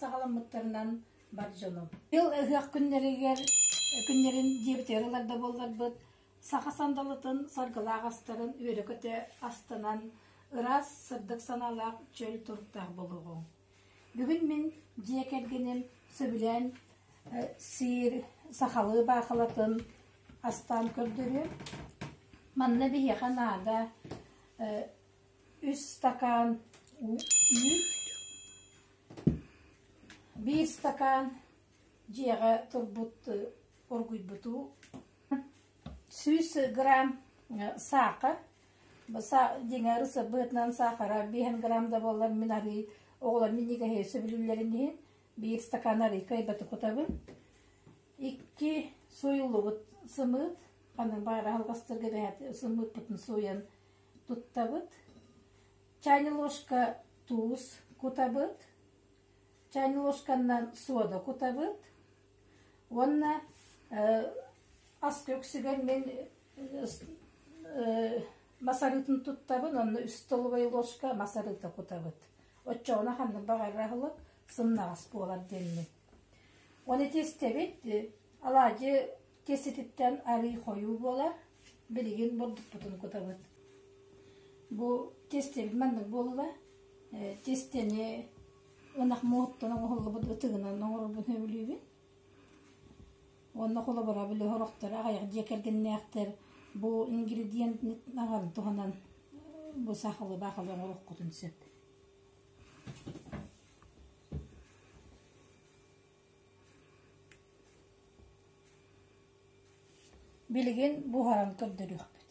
саҕаламмыттарынан бар дьонум. Ил ыһыах күннэригэр күннэрин диэбитигэр ыларда буолларбыт саха сандалытын саргылаах астарын үөрөкөтө астынан ыраас сырдык санаалаах чөл туруктаах болуоҕуҥ. Бүгүн мин дьиэ кэргэним сөбүлээн сиир сахалыы баахылатын астаан көрдөрүөм. Манна биһиэхэ наада үс стакаан үүт, биир стакаан дьиэҕэ турбут оргуйбут уу, сүүс грамм саакы, Баса дьиҥэр сырбыһытынан саахара биэһин грамм да буоллар мин арыый оҕолор минньигэһи сөбүлүүллэрин иһин биир стакан арыый кыайбаты кутабын. Икки сууйуллубут сымыыт, аны баар аһылҕастарга бэһэт сымыытпытын сууйан туттабыт. Чайный ложка туус кутабыт. Чайный ложканан сода кутабыт. Уонна аска үксүгэр мин мас арыытын туттабын уонна үс столовай ложка мас арыыта кутабыт. Оччоҕуна ханнык баҕарар аһылык сымнаҕас буолар диэммин. Ону ити истэбит, алаадьы киэсититтэн арыы-хойуу буолар, билигин бурдукпутун кутабыт. Бу тестэбит маннык буолла, тестэни Ынах муоһуттан оҥоһуллубут ытыынан оҥорорбун сөбүлүүбүн. Уонна холобура били сорохтор аҕыйах дьиэ кэргэннээхтэр бу ингредиентын туһанан бу сахалы баахалы оҥоруоххутун сөп. Билигин буһаран көрдөрүөхпүт.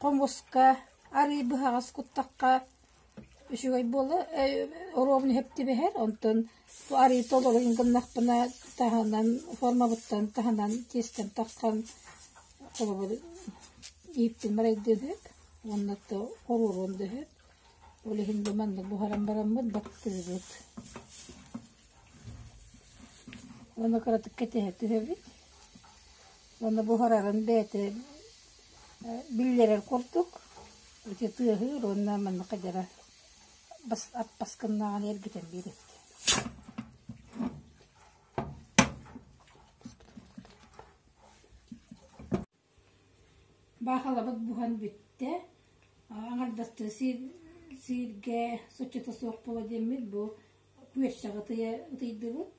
Хомуска арыый быһаҕас куттахха үчүгэй буолуо, оруобуна иһиптибэһэр, онтон арыый толорун гыннахпына таһынан, формабыттан таһынан тиэстэн тахсан холобур ииптин марайдыын ыһык уонна то оруолун да ыһык. Ол иһин бу маннык буһаран бараммыт баттыыбыт. Уонна кыратык кэтэһэ түһэбит. Уонна буһараҕын бэйэтэ биллэрэр курдук ити тыаһыыр уонна манна хадьара бас аппаскыннааҕын эргитэн биэрэбит Баахалабыт буһан бүттэ. Аҥардастыы сиир, сииргэ соччото суох буола диэммит бу күөрчэҕи ытыйа ытыйдыбыт.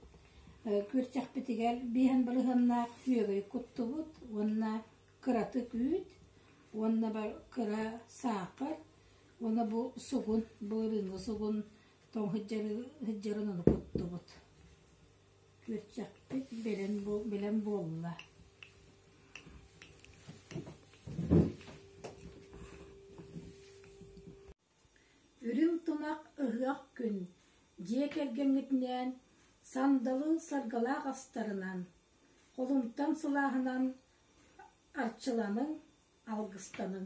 Күөрчэхпитигэр биэһин балыһаннаах күөгэй куттубут уонна кыратык үүт уонна бар кыра саахар уонна бу сугун, былырыыҥҥы сугун тоҥ сыдьарын ону куттубут. Күөрчэхпит бэлэм буолла. Үрүҥ тунах ыһыах күн дьиэ кэргэҥҥитинээн сандалыы саргылаах астарынан, холумтан сылааһынан арчыланыҥ, алгыстаныҥ